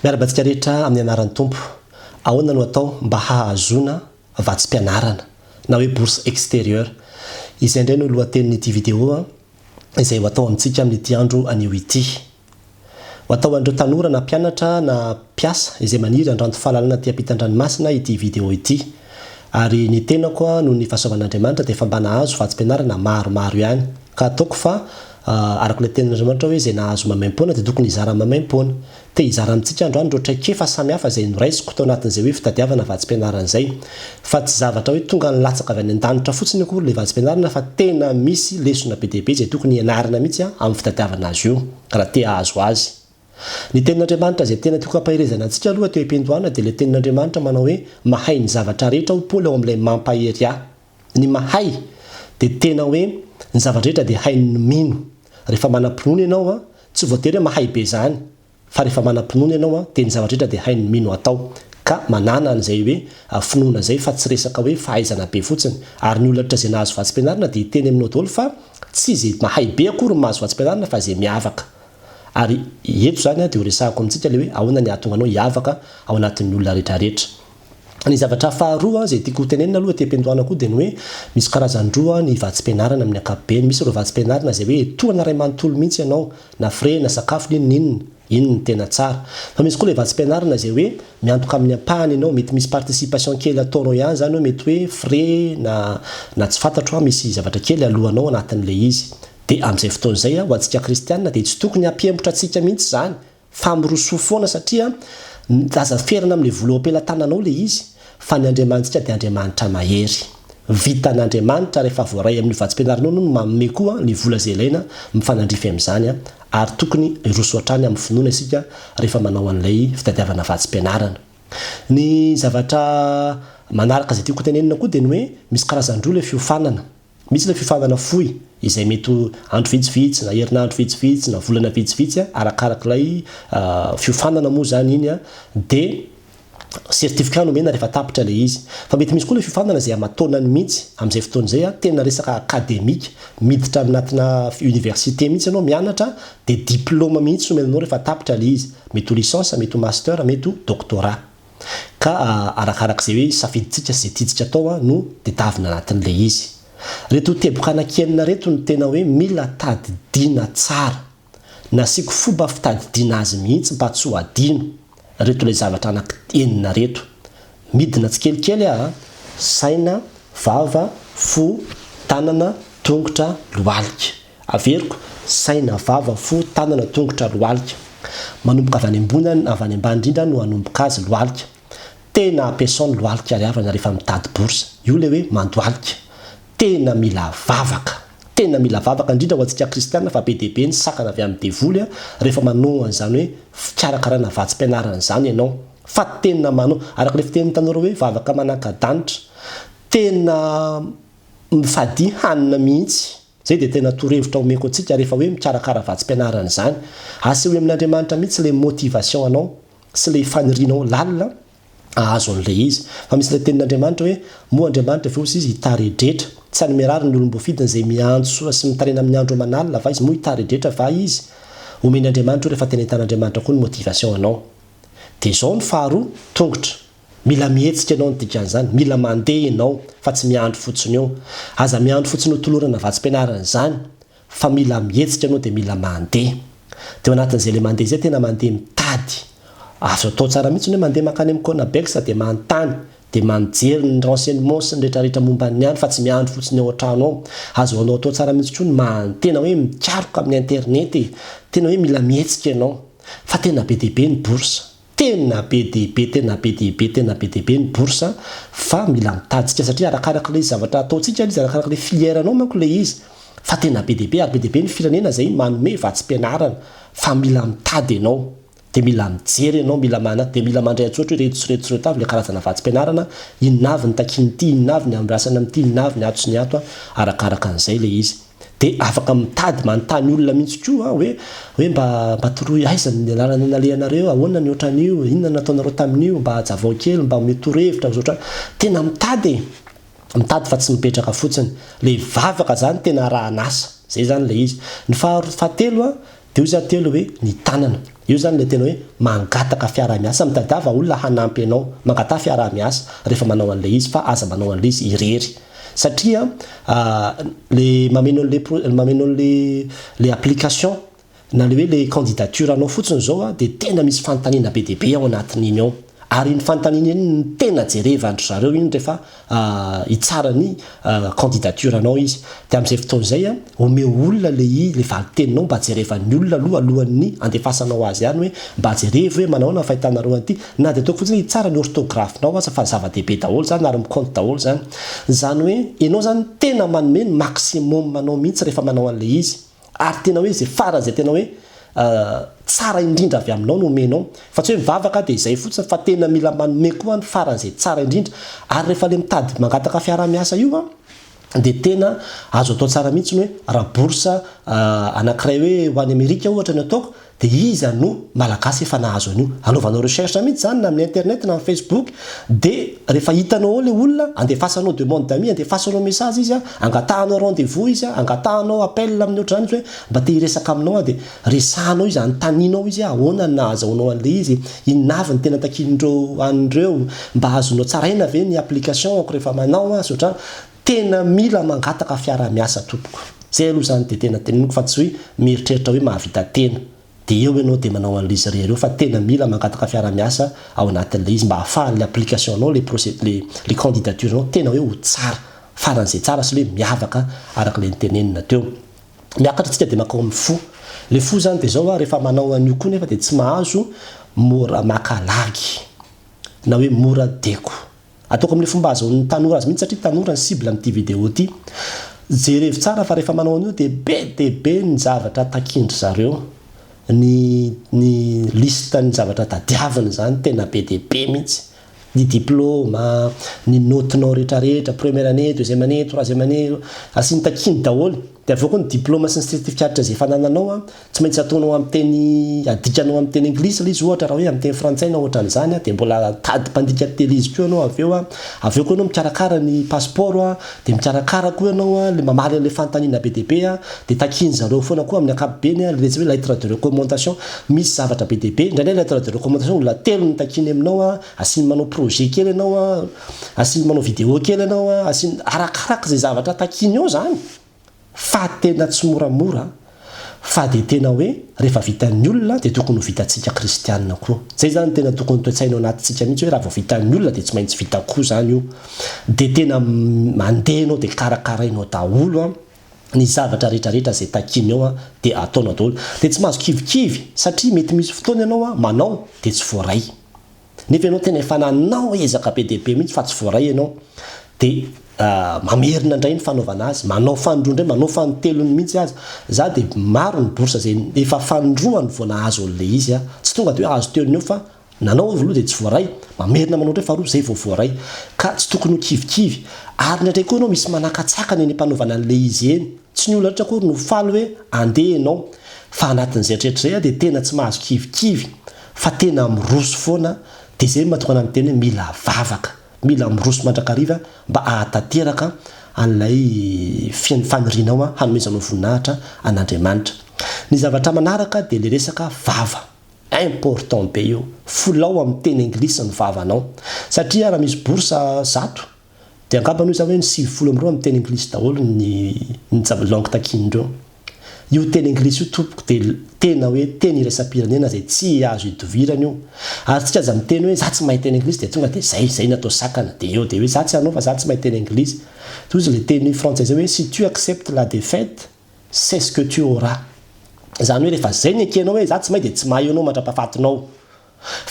Miara-batsika rehetra amin'ny anaran'ny Tompo. Ahoana no atao mba hahazoana vatsim-pianarana na hoe bourse extérieure? Izay indray no lohatenin'ity video izay ho atao amintsika amin'ity andro anio ity. Ho atao an'ireo tanora na mpianatra na mpiasa izay maniry handranto fahalalana aty am-pitan-dranomasina ity video ity. Ary ny tenako noho ny fahasoavan'Andriamanitra dia efa mba nahazo vatsim-pianarana maromaro ihany. Ka ataoko fa araka ilay tenin'Andriamanitra hoe izay nahazo maimaimpoana dia tokony hizara maimaimpoana. Te hizara amintsika androany ireo traikefa samihafa izay noraisiko tao anatin'izay hoe fitadiavana vatsim-pianarana izay. Fa tsy zavatra hoe tonga nilatsaka avy any an-danitra fotsiny akory ilay vatsim-pianarana fa tena misy lesona be dia be izay tokony hianarana mihitsy amin'ny fitadiavana azy io raha te hahazo azy. Ny Tenin'Andriamanitra izay tena tiako hampaherezana antsika aloha teo am-piandohana dia ilay Tenin'Andriamanitra manao hoe mahay ny zavatra rehetra hoy Paoly ao amin'ilay Mampahery ahy. Ny mahay dia tena hoe ny zava-drehetra dia hainy ny mino. Rehefa manam-pinoana ianao, tsy voatery hoe mahay be izany, fa rehefa manam-pinoana ianao dia ny zava-drehetra dia hainy ny mino atao. Ka manàna an'izay hoe finoana izay fa tsy resaka hoe fahaizana be fotsiny. Ary ny olona rehetra izay nahazo vatsim-pianarana dia hiteny aminao daholo fa tsy izay mahay be akory no mahazo vatsim-pianarana fa izay miavaka. Ary eto izany dia horesahako amintsika ilay hoe ahoana ny hahatonga anao hiavaka ao anatin'ny olona rehetrarehetra. Ny zavatra faharoa izay tiako hotenenina aloha ety am-piandohana koa dia ny hoe misy karazany roa ny vatsim-pianarana amin'ny ankapobeny. Misy ireo vatsim-pianarana izay hoe tohana iray manontolo mihitsy ianao, na frais, na sakafo, na inona inona. Iny no tena tsara. Fa misy koa ilay vatsim-pianarana izay hoe miantoka amin'ny ampahany ianao, mety misy participation kely ataonao ihany izany hoe mety hoe frais na na tsy fantatro an, misy zavatra kely aloanao anatin'ilay izy. Dia amin'izay fotoana izay ho antsika kristiana dia tsy tokony hampihembotra antsika mihitsy izany fa mirosoa foana satria aza ferana amin'ilay vola eo am-pelatananao ilay izy fa ny Andriamanitsika dia Andriamanitra mahery. Vitan'Andriamanitra rehefa voaray amin'io vatsim-pianaranao no manome koa ny vola izay ilaina mifanandrify amin'izany ary tokony hiroso hatrany amin'ny finoana isika rehefa manao an'ilay fitadiavana vatsim-pianarana. Ny zavatra manaraka izay tiako hotenenina koa dia ny hoe misy karazan-droa ilay fiofanana. Misy ilay fifaninana fohy izay mety ho andro vitsivitsy na herinandro vitsivitsy na volana vitsivitsy a, arakarak'ilay fiofanana moa izany iny a, dia certificat no omena rehefa tapitra ilay izy. Fa mety misy koa ilay fiofanana izay aman-taonany mihitsy, amin'izay fotoana izay a, tena resaka akademika, miditra anatina université mihitsy ianao, mianatra, dia diplaoma mihitsy no omena anao rehefa tapitra ilay izy. Mety ho licence, mety ho master, mety ho doctorat. Ka arakaraka izay hoe safidintsika sy izay tiantsika atao no tedavina anatin'ilay izy. Reto teboka anankienina reto no tena hoe mila tadidiana tsara. Nasiako fomba fitadidiana azy mihitsy mba tsy ho adino. Reto ilay zavatra anaky enina reto. Midina tsikelikely aho a! Saina, vava, fo, tanana, tongotra, lohalika. Averiko, saina, vava, fo, tanana, tongotra, lohalika. Manomboka avy any ambony avy any ambany indrindra no hanomboka azy, lohalika. Tena ampiasao ny lohalika ry havana rehefa mitady bourse. Io ilay hoe mandohalika. Tena mila vavaka. Tena mila vavaka indrindra ho antsika kristiana fa be dia be ny sakana avy amin'ny devoly rehefa manao an'izany hoe fikarakarana vatsim-pianarana izany ianao. Fa tena manao, araka ilay fitenin'ny tanora hoe vavaka manaka-danitra. Tena mifadia hanina mihitsy. Zay dia tena torohevitra omeko antsika rehefa hoe mikarakara vatsim-pianarana izany. Asehoy amin'Andriamanitra mihitsy ilay motivation anao sy ilay fanirianao lalina hahazo an'ilay izy. Fa misy ilay tenin'Andriamanitra hoe, Moa Andriamanitra ve osa izy hitaredretra? Tsy any Merary ny olom-boafidiny izay miantso sy mitarina amin'ny andro aman'alina va izy moa hitaredretra va izy? Omen'Andriamanitra io rehefa tena hitan'Andriamanitra koa ny motivation anao. Dia izao ny faharoa, tongotra. Mila mihetsika ianao ny dikan'izany, mila mandeha ianao fa tsy miandry fotsiny eo. Aza miandry fotsiny ho tolorana vatsim-pianarana izany fa mila mihetsika ianao dia mila mandeha. Dia ao anatin'izay ilay mandeha izay tena mandeha mitady. Azo atao tsara mihitsy ny hoe mandeha mankany amin'ny Conabex dia manontany, dia mijery ny renseignements sy ny rehetrarehetra momba ny any fa tsy miandry fotsiny ao an-trano ao. Azo anao atao tsara mihitsy koa ny maha-tena hoe mikaroka amin'ny internet e! Tena hoe mila mihetsika ianao. Fa tena be dia be ny bourses. Tena be dia be, tena be dia be, tena be dia be ny bourse fa mila mitajika satria arakaraka ilay zavatra ataontsika ilay izy, arakaraka ilay filière anao manko ilay izy fa tena be dia be ary be dia be ny firenena izay manome vatsim-pianarana fa mila mitady ianao dia mila mijery ianao, mila mana, dia mila mandray an-tsoatra hoe ireto sy ireto sy ireto avy ilay karazana vatsim-pianarana, inona avy ny takian'ity, inona avy ny andrasana amin'ity, inona avy ny ato sy ny ato an, arakaraka an'izay ilay izy. dia afaka mitady manontany olona mihitsy koa an, hoe hoe mba mba toroy aiza ny lalana nalehanareo, ahoana ny otran'io, inona nataonareo tamin'io, mba ajavao kely, mba omeo torohevitra ami'zao otrany, tena mitady e, mitady fa tsy mipetraka fotsiny, le vavaka zany tena arahan'asa, zay zany le izy, ny faha fahatelo an, Dia hoy za telo hoe, ny tanana. Io izany ilay tena hoe mangataka fiaraha-miasa, mitadiava olona hanampy anao. Mangataha fiaraha-miasa rehefa manao an'ilay izy fa aza manao an'ilay izy irery. Satria ilay mameno an'ilay pro, mameno an'ilay application na ilay hoe ilay candidature-nao fotsiny izao dia tena misy fanontaniana be dia be ao anatin'iny ao. Ary iny fanontaniana iny no tena jerevan-dry zareo iny rehefa hitsara ny candidature anao izy. Dia amin'izay fotoana izay, omeo olona ilay izy, ilay valin-teninao mba jerevan'ny olona aloha alohan'ny handefasanao azy any hoe mba jerevo hoe manahoana ny fahitanareo an'ity. Na dia ataoko fotsiny hoe hitsara ny orthographe-nao aza fa zava-dehibe daholo izany ary mi-compte daholo izany. Izany hoe ianao izany tena manome ny maximum-nao mihitsy rehefa manao an'ilay izy. ary tena hoe izay farany izay tena hoe tsara indrindra avy aminao no omenao fa tsy hoe mivavaka aho dia izay fotsiny fa tena mila manome koa ny farany izay tsara indrindra ary rehefa le mitady mangataka fiarahamiasa io a dia tena azo atao tsara mihitsy ny hoe raha bourse anakiray hoe ho any Amerika ohatra ny ataoko De iza no malagasy efa nahazo an'io? Anaovanao recherche mihitsy zany na amin'ny internet na amin'ny facebook de rehefa hitanao ao le olona andefasanao demande d'amis andefasanao message izy an, angatahanao rendez-vous izy an, angatahanao appel amin'ny ohatr'izany izy hoe mba te hiresaka aminao aho de resahanao izy anontanianao izy hoe ahoana ny nahazahoanao an'le izy? inona avy ny tena takian'ireo an'ireo? mba azonao tsaraina ve ny application-ko rehefa manao an? sy ohatr'izany. Tena mila mangataka fiara miasa tompoko. Zay aloha zany de tena teneniko fa tsy hoe mieritreritra hoe mahavita tena de eo enao de manao anle izy rery eo fa tena mila mangataka fiara miasa ao anatinle izy mba afahanle application nao le procé le le candidature nao tena hoe ho tsara faranze tsara sy le miavaka arakle nitenenina teo. Miakatra tsika de makao amin fo. Le fo zany de zao hoa refa manao anio koa nefa de tsy mahazo mora maka lagy na hoe mora deko. Ataoko amin'ny fomba ahazoan'ny tanora azy mihitsy satria tanora ny cible amin'ity vidéo ity. Jerevo tsara fa rehefa manao an'io dia be dia be ny zavatra takian-dry zareo. Ny ny liste ny zavatra tadiaviny izany tena be dia be mihitsy. Ny diplôma, ny naotinao rehetra rehetra, première année, deuxième année, troisième année, asiany takiany daholo. Dia avoako ny diploma sy ny certificats izay efa anananao an, tsy maintsy ataonao amin'ny teny, adikanao amin'ny teny anglisy ilay izy ohatra raha hoe amin'ny teny frantsay na ohatran'izany an, dia mbola tady mpandika tele izy koa ianao avy eo an, avy eo koa ianao mikarakara ny pasipaoro an, dia mikarakara koa ianao an, ilay mamaly an'ilay fanontaniana be dia be an, dia takian'ny zareo foana koa amin'ny ankapobeny an, ilay resy hoe lettre de recommandation, misy zavatra be dia be, indraindray lettre de recommandation olona telo no takiany aminao an, asiany manao projet kely ianao an, Asiny manao vidéo kely ianao a, asiny arakaraka izay zavatra takiany eo izany fa tena tsy moramora fa dia tena hoe rehefa vitan'ny olona dia tokony ho vitantsika kristianina koa. Izay izany tena tokony toe-tsaina ao anatintsika mihitsy hoe raha vao vitan'ny olona dia tsy maintsy vita koa izany io. Dia tena mandeha ianao dia karakarainao daholo a, ny zavatra rehetrarehetra izay takiany eo a dia ataonao daholo. Dia tsy mahazo kivikivy satria mety misy fotoana ianao a manao dia tsy voaray. Nefa ianao tena efa nanao ezaka be dia be mihitsy fa tsy voaray ianao, dia mamerina indray ny fanaovana azy, manao fanindroa indray, manao fanintelony mihitsy aza. Izaho dia maro ny bourse izay efa fanindroany vao nahazo an'ilay izy aho. Tsy tonga dia hoe azo teo ny eo fa nanao aloha dia tsy voaray, mamerina manao indray faharoa izay vao voaray. Ka tsy tokony ho kivikivy. Ary indraindray koa ianao misy manakatsakana eny am-panaovana an'ilay izy eny. Tsy ny olona rehetra akory no faly hoe andeha ianao. Fa anatin'izay hatreritrizay aho dia tena tsy mahazo kivikivy. fa tena miroso foana dia izay no mahatonga anah miteny hoe mila vavaka, mila miroso mandrakariva mba ahatanteraka an'ilay fiain'ny fanirianao hanomezanao voninahitra an'Andriamanitra. Ny zavatra manaraka dia ilay resaka vava. Important be io, fulao amin'ny teny anglisy ny vavanao. Satria raha misy bourse zato, Dia angamba aloha izany hoe ny sivifolo amby roa amin'ny teny anglisy daholo ny ny zava langue takian'ireo. Io teny anglisy io tompoko dia tena hoe teny iraisam-pirenena izay tsy azo idivirana io. Ary tsika aza miteny hoe za tsy mahay teny anglisy dia tonga dia zay, zay ny atao sakana. Dia eo dia hoe za tsy hanao fa za tsy mahay teny anglisy. Toy izay le teny frantsay izay hoe si tu acceptes la defaite, c'est ce que tu auras. Izany hoe rehefa zay ny ekenao hoe za tsy mahay dia tsy mahay eo anao mandrapahafatinao.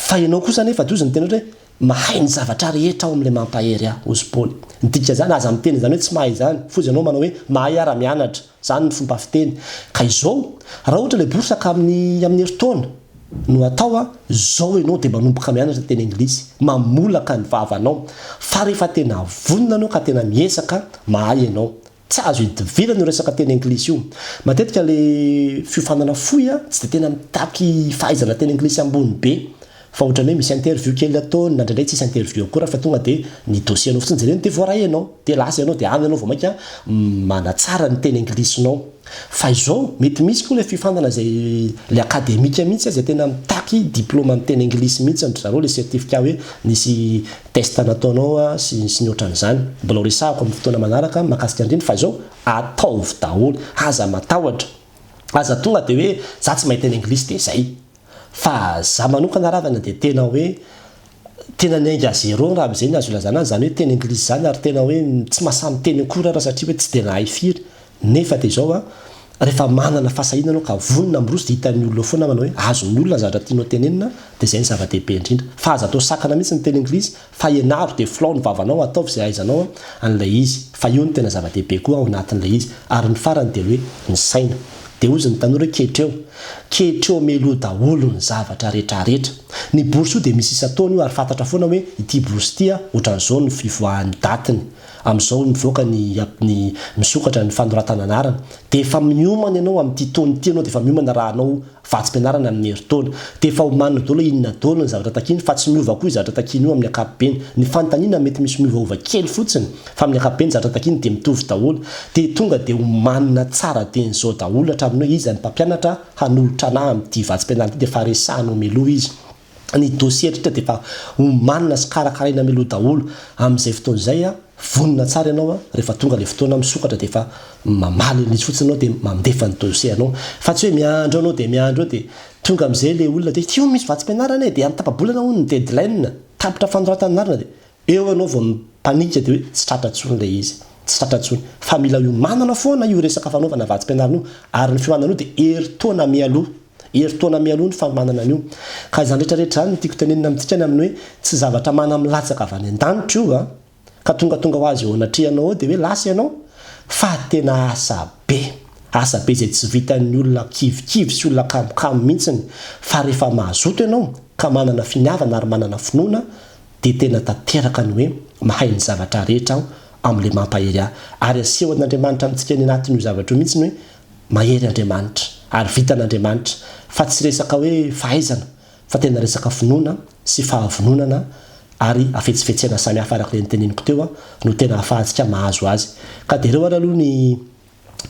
Fa ianao kosa anefa, Dozy, niteny ohatra hoe, Mahay ny zavatra rehetra ao amin'ilay mampahery ahy, hoy i Paoly. Ny dikan'izany, aza miteny izany hoe tsy mahay izany, foza ianao manao hoe, Mahay aho raha mianatra. Izany ny fomba fiteny. Ka izao, raha ohatra ilay bourse ka amin'ny, amin'ny herintaona no atao, izao ianao dia manomboka mianatra teny anglisy, mamolaka ny vavanao. Fa rehefa tena vonona ianao ka tena miezaka, mahay ianao. Tsy azo idivirana io resaka teny anglisy io. Matetika le fiofanana fohy a, tsy de tena mitaky fahaizana teny anglisy ambony be, fa otrany hoe misy interview kely ataony na ndraindray tsisy interview akory fa tonga de ny dossier anao fotsiny jereny de voaray enao, de lasa enao de any enao vao maika manatsara ny teny anglisinao. Fa izao mety misy koa le fiofanana zay le akademika mihitsy a, zay tena mitaky diploma am teny anglisy mihitsy an-dry zareo le certificat hoe nisy test nataonao sy sy ny otran'izany, mbola ho resahako amin'ny fotoana manaraka makasika andrindra fa izao ataovy daholo, aza matahotra, aza tonga dia hoe za tsy mahay teny anglisy dia zay, fa za manokana ravana dia tena hoe tena niainga à zéro raha amzay ny azo ilazana azy zany hoe teny anglisy zany ary tena hoe tsy masamiteny akory ara satria hoe tsy dia nahay firy, Nefa dia izao an, rehefa manana fahasahiana ianao ka vonona miroso dia hitan'ny olona eo foana manao hoe azon'ny olona ny zavatra tianao tenenina dia izay no zava-dehibe indrindra. Fa aza atao sakana mihitsy ny teny anglisy fa ianaro dia filao ny vavanao ataovy izay ahaizanao an'ilay izy fa io no tena zava-dehibe koa ao anatin'ilay izy ary ny farany dia hoe ny saina. Dia hozy ny tanora hoe ketreo. Ketreo meloa daholo ny zavatra retraretra. Ny bourse io dia misy isan-taona io ary fantatra foana hoe ity bourse ity an, ohatran'izao no fivoahan'ny datiny. Amin'izao mivoaka ny ny misokatra ny fanoratana anarana dia efa miomana ianao amin'ity taona ity ianao dia efa miomana raha hanao vatsim-pianarana amin'ny herintaona dia efa omanina daholo inona daholo ny zavatra takiany fa tsy miova koa io zavatra takiany io amin'ny ankapobeny. Ny fanontaniana mety misy miovaova kely fotsiny fa amin'ny ankapobeny zavatra takiany dia mitovy daholo dia tonga dia omanina tsara teny izao daholo hatramin'ny hoe iza ny mpampianatra hanolotra anah amin'ity vatsim-pianarana ity dia efa resahina ao mialoha izy ny dossier eto de efa omanina sy karakaraina mialoha daholo amin'izay fotoana izay a, vonona tsara ianao a, rehefa tonga le fotoana misokatra de efa mamaly an'izy fotsiny anao de mandefa ny dossier anao fa tsy hoe miandry eo anao de miandry eo de tonga amizay le olona de ity hono misy vatsim-pianarana e de amin'ny tapa-bolana hono ny deadline tapitra fanoratana anarana de Eo ianao vao mipanika dia hoe tsy tratra intsony ilay izy. Tsy tratra intsony. Fa mila hiomanana foana io resaka fanaovana vatsim-pianarana io. Ary ny fiomanana io dia herintaona mialoha. Herintaona mialoha ny fanomanana an'io. Ka izany rehetra rehetra izany no tiako tenenina amintsika ny amin'ny hoe tsy zavatra manamilatsaka avy any an-danitra io an! Ka tonga tonga ho azy eo anatrehanao eo dia hoe lasa ianao? Fa tena asa be. Asa be izay tsy vitan'ny olona kivikivy sy olona kamokamo mihitsiny. Fa rehefa mazoto ianao ka manana finiavana ary manana finoana, dia tena tanteraka ny hoe mahay ny zavatra rehetra aho amin'ilay mampahery ahy. Ary aseho an'Andriamanitra amintsika any anatin'io zavatra io mihitsy ny hoe mahery Andriamanitra ary vitan'Andriamanitra fa tsy resaka hoe fahaizana fa tena resaka finoana sy fahavononana ary hafetsifetsena samihafa arak'ilay noteniniko teo no tena ahafahantsika mahazo azy. Ka dia ireo ary aloha ny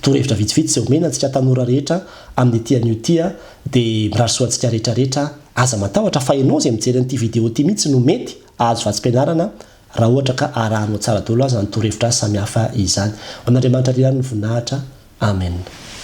torohevitra vitsivitsy izay omena antsika tanora rehetra amin'ity anio ity a, dia mirary soa antsika rehetra rehetra a. Aza matahotra fa ianao izay mijery an'ity vidéo ity mihitsy no mety ahazo vatsim-pianarana raha ohatra ka arahanao tsara daholo aza ny torohevitra samihafa izany. Ho an'Andriamanitra ry ihany ny voninahitra. Amen.